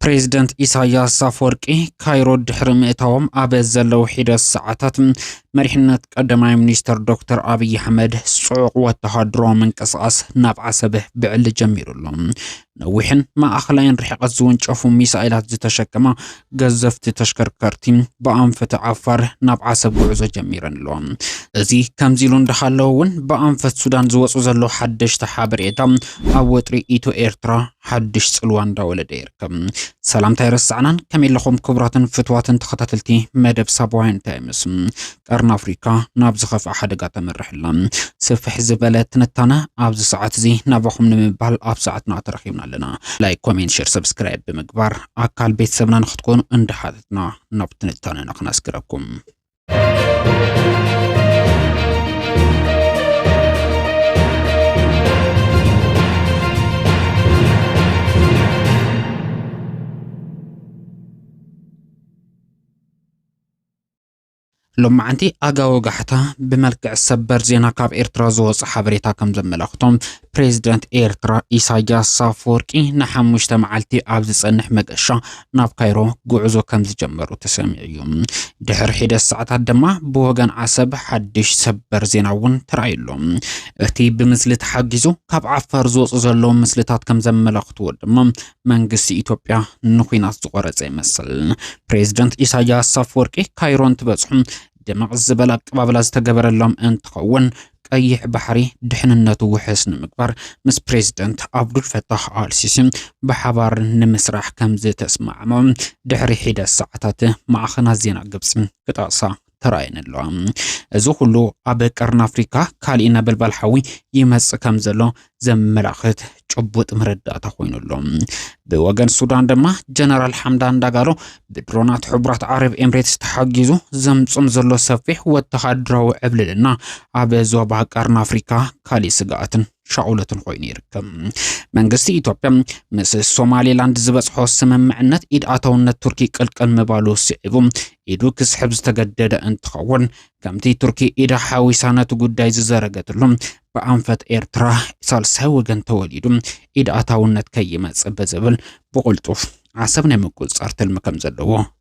ፕሬዚደንት ኢሳያስ ኣፈወርቂ ካይሮ ድሕሪ ምእታዎም ኣብ ዘለዉ ሒደት ሰዓታት መሪሕነት ቀዳማይ ሚኒስትር ዶክተር ኣብዪ ኣሕመድ ጽዑቕ ወተሃደራዊ ምንቅስቓስ ናብ ዓሰብ ብዕሊ ጀሚሩ ኣሎ። ነዊሕን ማእኸላይን ርሕቐት ዝወንጨፉ ሚሳኤላት ዝተሸከማ ገዘፍቲ ተሽከርከርቲ ብኣንፈት ዓፋር ናብ ዓሰብ ጉዕዞ ጀሚረን ኣለዋ። እዚ ከምዚ ኢሉ እንዳሃለወ እውን ብኣንፈት ሱዳን ዝወፁ ዘሎ ሓደሽቲ ሓበሬታ ኣብ ወጥሪ ኢትዮ ኤርትራ ሓድሽ ጽልዋ እንዳወለደ ይርከብ። ሰላምታ ኣይረሳዕናን። ከመይ ኣለኹም ክቡራትን ፍትዋትን ተኸታተልቲ መደብ ሳባውያን ታይምስ። ቀርኒ ኣፍሪካ ናብ ዝኸፍኣ ሓደጋ ተምርሕ ኣላ። ስፍሕ ዝበለ ትንታነ ኣብዚ ሰዓት እዚ ናባኹም ንምባል ኣብ ሰዓትና ተረኺብና ኣለና። ላይክ፣ ኮሜንት፣ ሸር፣ ሰብስክራይብ ብምግባር ኣካል ቤተሰብና ንክትኮኑ እንዳሓተትና ናብ ትንታነና ክነስግረኩም። ሎማዓንቲ ኣጋ ወጋሕታ ብመልክዕ ሰበር ዜና ካብ ኤርትራ ዝወፀ ሓበሬታ ከም ዘመላኽቶ ፕሬዚደንት ኤርትራ ኢሳያስ ኣፈወርቂ ንሓሙሽተ መዓልቲ ኣብ ዝፀንሕ መገሻ ናብ ካይሮ ጉዕዞ ከም ዝጀመሩ ተሰሚዑ እዩ። ድሕሪ ሒደት ሰዓታት ድማ ብወገን ዓሰብ ሓድሽ ሰበር ዜና እውን ተራእዩ ኣሎ። እቲ ብምስሊ ተሓጊዙ ካብ ዓፋር ዝወፁ ዘለዉ ምስልታት ከም ዘመላኽትዎ ድማ መንግስቲ ኢትዮጵያ ንኩናት ዝቆረፀ ይመስል። ፕሬዝደንት ኢሳያስ ኣፈወርቂ ካይሮ እንትበፅሑ ድምቕ ዝበለ ኣቀባብላ ዝተገበረሎም እንትኸውን ቀይሕ ባሕሪ ድሕንነቱ ውሕስ ንምግባር ምስ ፕሬዝደንት ኣብዱል ፈታሕ ኣልሲሲ ብሓባር ንምስራሕ ከም ዝተስማዕምዑ ድሕሪ ሒደት ሰዓታት ማዕኸናት ዜና ግብፂ ክጠቕሳ ተራእየን ኣለዋ። እዚ ኩሉ ኣብ ቀርኒ ኣፍሪካ ካሊእ ነበልባል ሓዊ ይመፅእ ከም ዘሎ ዘመላኽት ጭቡጥ መረዳእታ ኮይኑ ኣሎ። ብወገን ሱዳን ድማ ጀነራል ሓምዳን ዳጋሎ ብድሮናት ሕቡራት ዓረብ ኤምሬትስ ተሓጊዙ ዘምፅም ዘሎ ሰፊሕ ወተሃደራዊ ዕብልልና ኣብ ዞባ ቀርኒ ኣፍሪካ ካሊእ ስግኣትን ሻኦለትን ኮይኑ ይርከብ። መንግስቲ ኢትዮጵያ ምስ ሶማሌላንድ ዝበፅሖ ስምምዕነት ኢድ ኣታውነት ቱርኪ ቅልቅል ምባሉ ስዒቡ ኢዱ ክስሕብ ዝተገደደ እንትኸውን ከምቲ ቱርኪ ኢዳ ሓዊሳ ነቲ ጉዳይ ዝዘረገትሉ ብኣንፈት ኤርትራ ሳልሳይ ወገን ተወሊዱ ኢድ ኣታውነት ከይመፅእ ብዝብል ብቕልጡፍ ዓሰብ ናይ ምቁፅፃር ትልሚ ከም ዘለዎ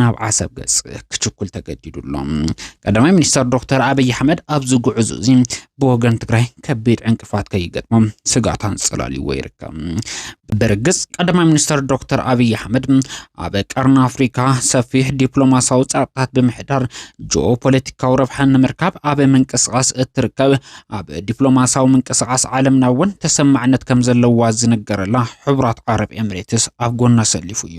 ናብ ዓሰብ ገጽ ክችኩል ተገዲዱ ኣሎ። ቀዳማይ ሚኒስተር ዶክተር ኣብይ ኣሕመድ ኣብዚ ጉዕዞ እዚ ብወገን ትግራይ ከቢድ ዕንቅፋት ከይገጥሞም ስጋት ኣንጸላልዎ ይርከብ። ብርግጽ ቀዳማይ ሚኒስተር ዶክተር ኣብይ ኣሕመድ ኣብ ቀርኒ ኣፍሪካ ሰፊሕ ዲፕሎማሲያዊ ጸቕጥታት ብምሕዳር ጂኦፖለቲካዊ ረብሓ ንምርካብ ኣብ ምንቅስቓስ እትርከብ ኣብ ዲፕሎማሲያዊ ምንቅስቓስ ዓለምና እውን ተሰማዕነት ከም ዘለዋ ዝንገረላ ሕቡራት ዓረብ ኤምሬትስ ኣብ ጎና ሰሊፉ እዩ።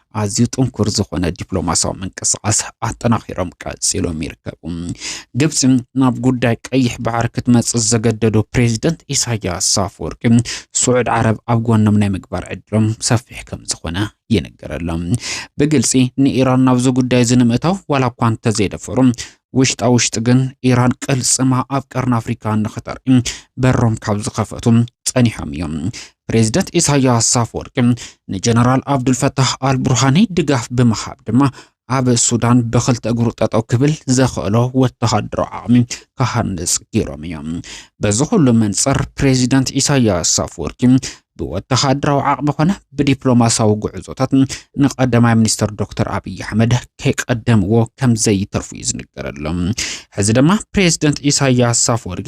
ኣዝዩ ጥንኩር ዝኾነ ዲፕሎማሲያዊ ምንቅስቓስ ኣጠናኺሮም ቀፂሎም ይርከቡ። ግብፂ ናብ ጉዳይ ቀይሕ ባሕሪ ክትመፅእ ዘገደዶ ፕሬዚደንት ኢሳያስ ኣፈወርቂ ስዑድ ዓረብ ኣብ ጎኖም ናይ ምግባር ዕድሎም ሰፊሕ ከም ዝኾነ ይንገረሎም። ብግልፂ ንኢራን ናብዚ ጉዳይ እዚ ንምእታው ዋላ እኳ እንተዘይደፈሩ ውሽጣ ውሽጢ ግን ኢራን ቅልፅማ ኣብ ቀርኒ ኣፍሪካ ንክተርኢ በሮም ካብ ዝኸፈቱ ጸኒሖም እዮም። ፕሬዝደንት ኢሳያስ ኣፈወርቂ ንጀነራል ኣብዱልፈታህ ኣልቡርሃኒ ድጋፍ ብምሃብ ድማ ኣብ ሱዳን ብክልተ እግሩ ጠጠው ክብል ዘኽእሎ ወተሃደራዊ ዓቕሚ ክሃንፅ ገይሮም እዮም። በዚ ኩሉ መንፅር ፕሬዚደንት ኢሳያስ ኣፈወርቂ ብወተሃደራዊ ዓቕሚ ኮነ ብዲፕሎማሲያዊ ጉዕዞታት ንቀዳማይ ሚኒስትር ዶክተር ኣብዪ ኣሕመድ ከይቀደምዎ ከምዘይተርፉ እዩ ዝንገረሎም። ሕዚ ድማ ፕሬዚደንት ኢሳያስ ኣፈወርቂ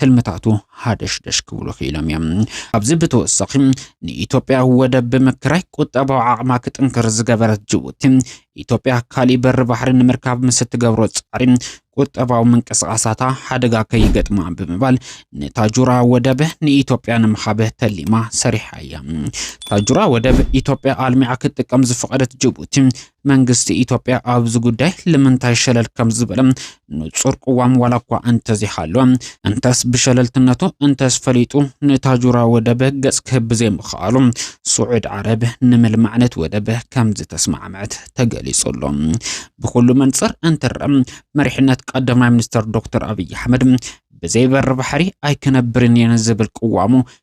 ትልምታቱ ሃደሽደሽ ክብሉ ክኢሎም እዮም። ኣብዚ ብተወሳኺ ንኢትዮጵያ ወደብ ብምክራይ ቁጠባዊ ዓቕማ ክጥንክር ዝገበረት ጅቡቲ ኢትዮጵያ ካሊእ በሪ ባሕሪ ንምርካብ ምስ እትገብሮ ፃዕሪ ቁጠባዊ ምንቅስቓሳታ ሓደጋ ከይገጥማ ብምባል ንታጁራ ወደብ ንኢትዮጵያ ንምሃብ ተሊማ ሰሪሓ እያ። ታጁራ ወደብ ኢትዮጵያ ኣልሚዓ ክትጥቀም ዝፈቐደት ጅቡቲ መንግስቲ ኢትዮጵያ ኣብዚ ጉዳይ ልምንታይ ሸለል ከም ዝበለ ንጹር ቅዋም ዋላ እኳ እንተዘይሃለወ፣ እንተስ ብሸለልትነቱ እንተስ ፈሊጡ ንታጁራ ወደብ ገጽ ክህብ ብዘይምኽኣሉ፣ ስዑድ ዓረብ ንምልማዕ ነቲ ወደብ ከም ዝተስማዕመዐት ተገሊጹ ኣሎ። ብኹሉ መንጽር እንትረኣ መሪሕነት ቀዳማይ ሚኒስተር ዶክተር ኣብይ ኣሕመድ ብዘይ በሪ ባሕሪ ኣይክነብርን እየ ንዝብል ቅዋሙ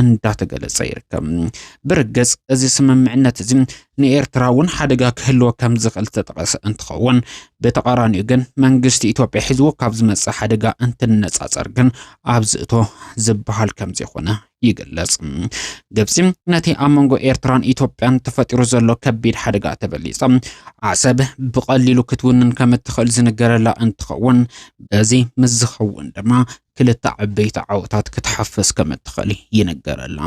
እንዳተገለጸ ይርከብ። ብርግጽ እዚ ስምምዕነት እዚ ንኤርትራ እውን ሓደጋ ክህልዎ ከም ዝኽእል ዝተጠቐሰ እንትኸውን ብተቓራኒኡ ግን መንግስቲ ኢትዮጵያ ሒዝዎ ካብ ዝመጽእ ሓደጋ እንትነጻጸር ግን ኣብዚ እቶ ዝበሃል ከም ዘይኮነ ይግለጽ። ግብጺ ነቲ ኣብ መንጎ ኤርትራን ኢትዮጵያን ተፈጢሩ ዘሎ ከቢድ ሓደጋ ተበሊጻ ዓሰብ ብቐሊሉ ክትውንን ከም እትኽእል ዝንገረላ እንትኸውን በዚ ምስ ዝኸውን ድማ ክልተ ዓበይቲ ዓወታት ክትሓፍስ ከም እትኽእል ይንገረላ።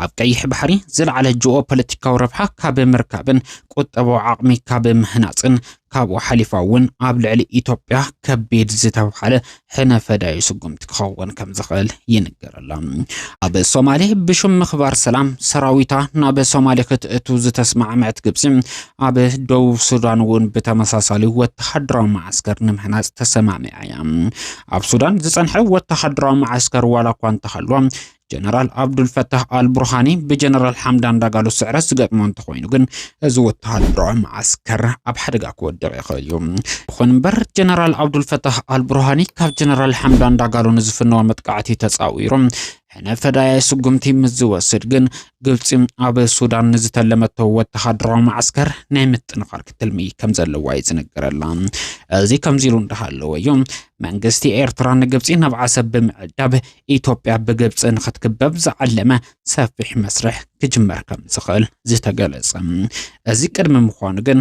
ኣብ ቀይሕ ባሕሪ ዝለዓለ ጂኦ ፖለቲካዊ ረብሓ ካብ ምርካብን ቁጠባዊ ዓቕሚ ካብ ምህናፅን ካብኡ ሓሊፋ እውን ኣብ ልዕሊ ኢትዮጵያ ከቢድ ዝተብሃለ ሕነ ፈዳዩ ስጉምቲ ክኸውን ከም ዝኽእል ይንገረላ። ኣብ ሶማሌ ብሽም ምኽባር ሰላም ሰራዊታ ናብ ሶማሌ ክትእቱ ዝተስማዕመዐት ግብፂ ኣብ ደቡብ ሱዳን እውን ብተመሳሳሊ ወተሃደራዊ መዓስከር ንምህናፅ ተሰማሚዓ እያ። ኣብ ሱዳን ዝፀንሐ ወተሃደራዊ መዓስከር ዋላ እኳ እንተሃልዎ ጀነራል ኣብዱልፈታህ ኣልቡርሃኒ ብጀነራል ሓምዳን ዳጋሎ ስዕረት ዝገጥሞ እንተኾይኑ ግን እዚ ወተሃደራዊ መዓስከር ኣብ ሓደጋ ክወድቕ ይኽእል እዩ ይኹን እምበር ጀነራል ኣብዱልፈታህ ኣልቡርሃኒ ካብ ጀነራል ሓምዳን ዳጋሎ ንዝፍነዎ መጥቃዕቲ ተፃዊሮም ሕነ ፈዳያይ ስጉምቲ ምስ ዝወስድ ግን ግብፂ ኣብ ሱዳን ንዝተለመቶ ወተሃደራዊ ማዕስከር ናይ ምጥንኻር ክትልሚ ከም ዘለዋ እዩ ዝነገረላ። እዚ ከምዚ ኢሉ እንዳሃለወ እዩ መንግስቲ ኤርትራ ንግብፂ ናብ ዓሰብ ብምዕዳብ ኢትዮጵያ ብግብፂ ንክትክበብ ዝዓለመ ሰፊሕ መስርሕ ክጅመር ከም ዝኽእል ዝተገለጸ። እዚ ቅድሚ ምዃኑ ግን